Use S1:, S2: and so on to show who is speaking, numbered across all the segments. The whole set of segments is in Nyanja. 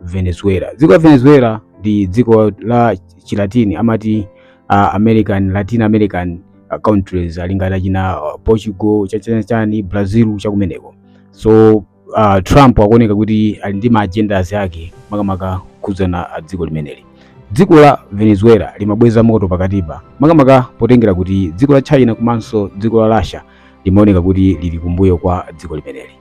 S1: Venezuela. Dziko la Venezuela ndi dziko la Chilatini amati uh, American Latin American uh, countries ali ngati China uh, Portugal chachani chani Brazil chakumeneko. So uh, Trump akuoneka kuti ali ndi ma agendas ake makamaka khudzana dziko limeneli. Dziko la Venezuela limabweza moto pakatipa makamaka potengera kuti dziko la China komanso dziko la Russia limaoneka kuti lili kumbuyo kwa dziko limeneli.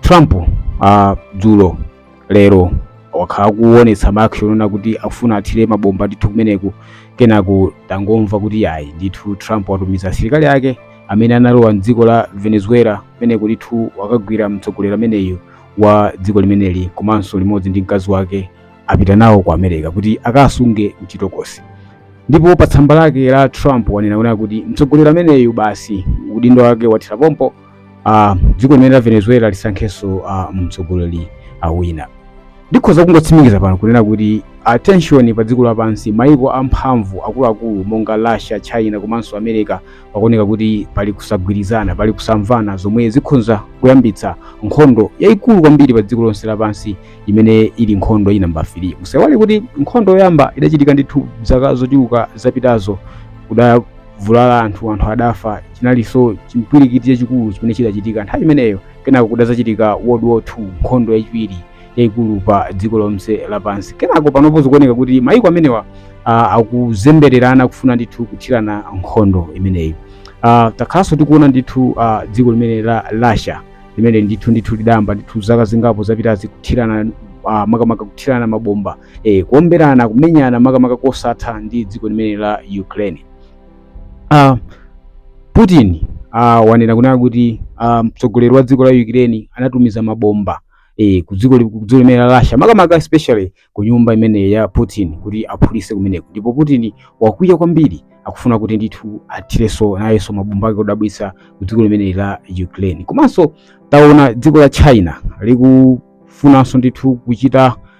S1: trump uh, dzulo lero wakhala kuonetsa maaction onena kuti akufuna athire mabomba ndithu kumeneku kenako tangomva kuti ayi ndithu trump watumiza asilikali ake amene analowa mdziko la venezuela kumeneko ndithu wakagwira mtsogoleri ameneyu wa dziko limeneli komanso limodzi ndi mkazi wake apita nawo ku america kuti akasunge mchitokosi ndipo pa tsamba lake la trump wanena kuti mtsogoleri ameneyu basi udindo wake wathera pompo uh, dziko limene la venezuela lisankhenso uh, mtsogoleri uh, wina ndikhoza kungotsimikiza pano kunena kuti tension pa dziko lapansi maiko amphamvu akuluakulu monga russia china komanso america pakuoneka kuti pali kusagwirizana pali kusamvana zomwe zikhonza kuyambitsa nkhondo yayikulu kwambiri pa dziko lonse lapansi imene ili nkhondo ya namba 3 musaiwale kuti nkhondo yoyamba idachitika ndithu zaka zochuluka zapitazo kuda vulala anthu anthu adafa chinalinso chimpwirikiti chachikulu chimene chidachitika nthawi imeneyo kenako kudazachitika world war 2 nkhondo yachiwiri yayikulu pa dziko lonse lapansi kenako panopa zikuoneka kuti mayiko amenewa uh, akuzembererana kufuna ndithu kuthirana nkhondo imeneyi uh, takhalanso tikuona ndithu uh, dziko limene la russia limene ndithu ndithu lidayamba ndithu zaka zingapo zapitazi kuthirana uh, makamaka kuthirana mabomba e, kuomberana kumenyana makamaka kosatha ndi dziko limene la Ukraine. Uh, Putin uh, wanena kunena kuti uh, mtsogoleri wa dziko la Ukraine anatumiza mabomba e, ku dziko limene la Russia makamaka especially ku nyumba imene ya Putin kuti aphulise kumeneko, ndipo Putin wakwiya kwambiri akufuna kuti ndithu athireso nayeso mabomba ake odabwitsa ku dziko limene la Ukraine. Komanso taona dziko la China likufunanso ndithu kuchita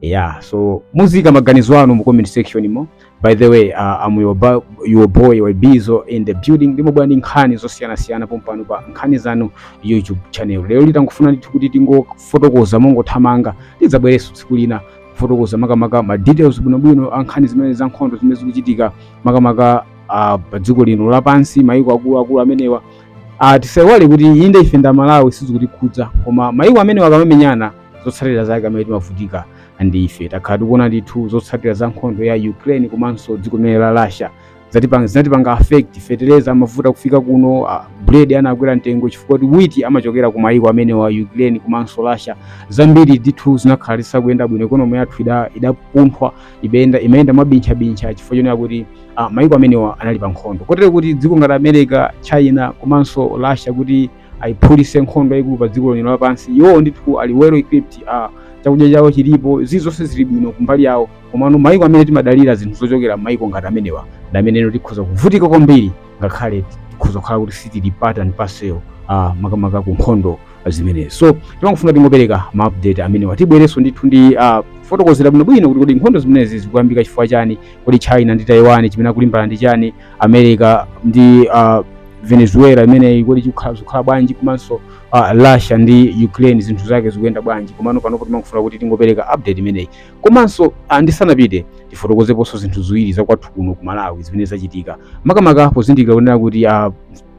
S1: yeah so muziika maganizo anu mu comment section mo by the way uh, I'm your, ba- your boy Wabizo in the building ndimabwera ndi nkhani zosiyanasiyana pompano pa nkhani zanu YouTube channel lero ndangofuna ndithu kuti tingofotokoza mongothamanga tidzabwerenso tsiku lina kufotokoza makamaka ma details bwinobwino a nkhani zimene za nkhondo zimene zikuchitika makamaka uh, pa dziko lino lapansi mayiko akuluakulu amenewa uh, tisaiwale kuti inde ife ndi a Malawi sizikutikhudza koma mayiko amenewa akamamenyana zotsatira zake amene timavutika ndi ife takhala tikuona ndithu zotsatira za nkhondo ya ukraine komanso dziko limene la russia zatipanga zinatipanga affect feteleza mafuta kufika kuno uh, bread anakwera mtengo chifukwa kuti witi amachokera ku mayiko amenewa ukraine komanso russia zambiri ndithu zinakhala zisakuyenda bwino ikonomi yathu ida- idapunthwa ibenda imayenda mwabintchabintcha chifukwa chonena kuti uh, mayiko amenewa anali pa nkhondo kotero kuti dziko ngati america china komanso russia kuti aiphulise nkhondo yaikulu pa dziko lino lapansi iwowo ndithu ali well equipped uh, chakudya chawo chilipo zii zonse zili bwino kumbali yawo komano maiko amene timadalira zinthu zochokera maiko ngati amenewa ndi amenenso tikhoza kuvutika kwambiri ngakhale tikhoza kukhala kuti sitili part and parcel uh, makamaka ku nkhondo zimenezi so timangofuna tingopereka ma update amenewa tibwerenso ndithu ndi uh, kufotokozera bwinobwino kuti kodi nkhondo zimenezi zikuyambika chifukwa chani kodi China ndi taiwan chimene akulimbana ndi chani america ndi uh, venezuela imeneyi kodi chikukhala zikukhala bwanji komanso uh, russia ndi ukraine zinthu zake zikuyenda bwanji komano panopo timangofuna kuti tingopereka update imeneyi komanso uh, ndisanapite tifotokozeponso zinthu ziwiri zakwathu kuno ku malawi zimene zachitika makamaka pozindikira kunena kuti uh,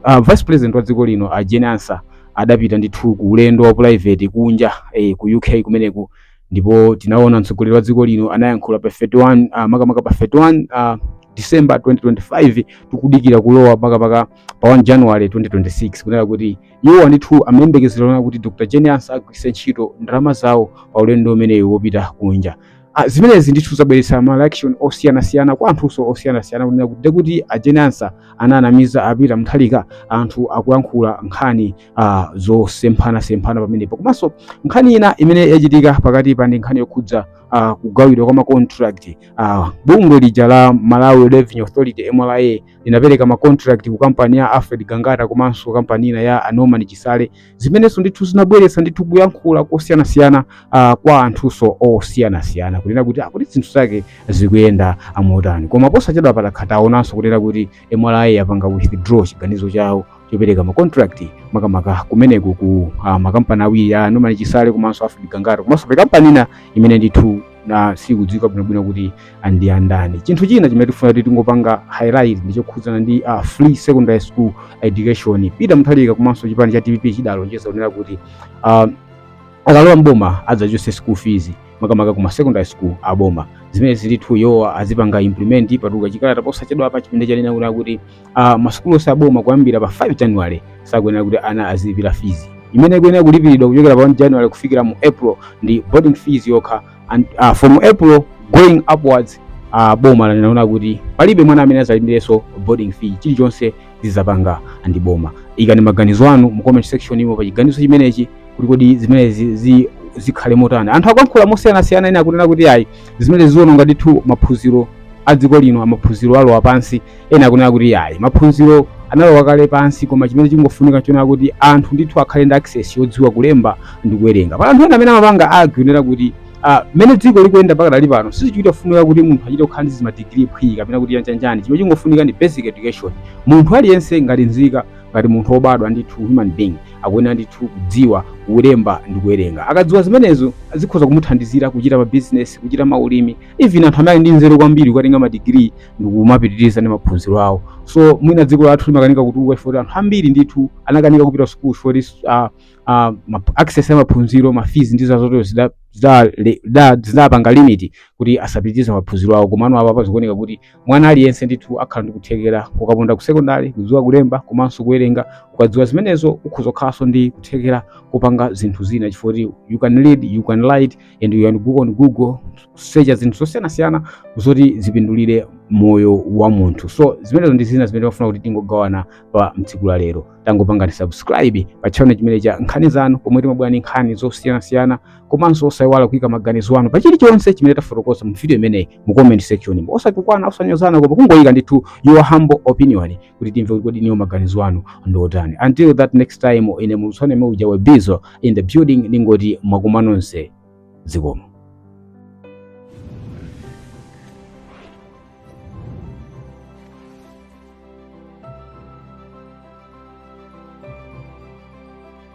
S1: uh, vice president wa dziko lino uh, jane ansah adapita ndithu ku ulendo wa private kunja eh, ku uk kumeneku ndipo tinaona mtsogoleri wa dziko lino anayankhula pa 31 uh, makamaka pa 31 uh, December 2025 tikudikira kulowa makamaka pa 1 January 2026 kunena kuti iwowa ndithu amayembekezera kunena kuti Dr. Jane Ansah agwiritse ntchito ndalama zawo pa ulendo umenewu wopita kunja Ah, zimenezi ndithu zabweretsa ma reaction osiyanasiyana kwa anthunso osiyanasiyana kunena kuti kuti a Jane Ansah anawanamiza a Peter Mutharika anthu akuyankhula nkhani uh, zosemphanasemphana pamenepo komanso nkhani ina imene yachitika pakatipa ndi nkhani yokhudza uh, kugawidwa kwa macontract uh, bungwe lija la Malawi Revenue Authority MRA linapereka macontract ku kampani ya Alfred Gangata komanso kampani ina ya Norman Chisale zimenenso ndithu zinabweretsa ndithu kuyankhula kosiyanasiyana uh, kwa anthunso osiyanasiyana kunena kuti kuti ah, zinthu zake zikuyenda motani koma posachedwapa takhala taonanso kunena kuti MRA yapanga withdraw chiganizo chawo chopereka ma contract makamaka kumeneku ku uh, makampani awiri ya Norman Chisale komanso Alfred Gangata komanso pena kampani ina imene ndithu na sikudziwika bwinobwino kuti ndi andani. Chinthu china chimene tifuna kuti tingopanga highlight ndi chokhudzana ndi uh, free secondary school education. Peter Mutharika komanso chipani cha DPP chidalonjeza kunena kuti uh, akalowa mboma adzachotse school fees makamaka kuma secondary school aboma zimene ndithu iwo azipanga implement patuka chikalata posachedwapa chimene chanena kuti masukulu onse aboma kuyambira pa 5 january sakuyenera kuti ana azilipira fizi imene ikuyenera kulipiridwa kuchokera pa 1 january kufikira mu april ndi boarding fees yokha and uh, from april going upwards uh, boma linaona kuti palibe mwana amene azalipireso boarding fee chilichonse zizapanga ndi boma ikani maganizo anu mu comment section umo pa chiganizo chimenechi kuti kodi zimenezi zi, zikhale motani anthu akuyankhula mosiyanasiyana ena akunena kuti ayi zimenezi ziononga ndithu maphunziro a dziko lino maphunziro alowa pansi ena akunena kuti ayi maphunziro analowa kale pansi koma chimene chingofunika ndi choonena kuti anthu ndithu akhale ndi access yodziwa kulemba ndi kuwerenga pali anthu ena amene amapanga argue kunena kuti ah, mmene dziko likuyendera pakadali pano sizichita kufunika kuti munthu achite kukhala ndi zimadigiri phwii kapena kuti chanichani chimene chingofunika ndi basic education munthu aliyense ngati nzika ngati munthu wobadwa ndithu human being akuyenera ndithu kudziwa kulemba ndi kuwerenga akadziwa zimenezo zikhoza kumuthandizira kuchita ma business kuchita maulimi even anthu amene ali ndi nzeru kwambiri kukatenga madigiri ndikumapitiriza ndi maphunziro awo so mwina dziko lathu limakanika kutukuka chifukwa choti anthu ambiri ndithu anakanika kupita sukulu chifukwa choti ah, ah, ma- access ya maphunziro mafizi ndi zazotero zida- zida- le- da- zidapanga limiti kuti asapitirize maphunziro awo komano apapa zikuoneka kuti mwana aliyense ndithu akhala ndi kuthekera kukaponda ku sekondari kudziwa kulemba komanso kuwerenga ukadziwa zimenezo ukhoza kukhalanso ndi kuthekera kupanga zinthu zina chifukwa choti you can read you can write and you can go on google kusecha zinthu zosiyanasiyana zoti zipindulire moyo wa munthu so zimenezo ndi zina zimene timafuna kuti tingogawana pa tsiku la lero tangopangani subscribe pa channel chimenechi cha nkhani zanu pomwe timabwera ndi nkhani zosiyanasiyana komanso osayiwala kuika maganizo anu pa chilichonse chimene tafotokoza mu video imeneyi mu comment section osatukwana osanyozana koma kungoyika ndithu your humble opinion kuti timve kuti kodi inuyo maganizo anu ndi otani until that next time ine mwatsana neme uja webizo in the building ndingoti mwaswera nonse zikomo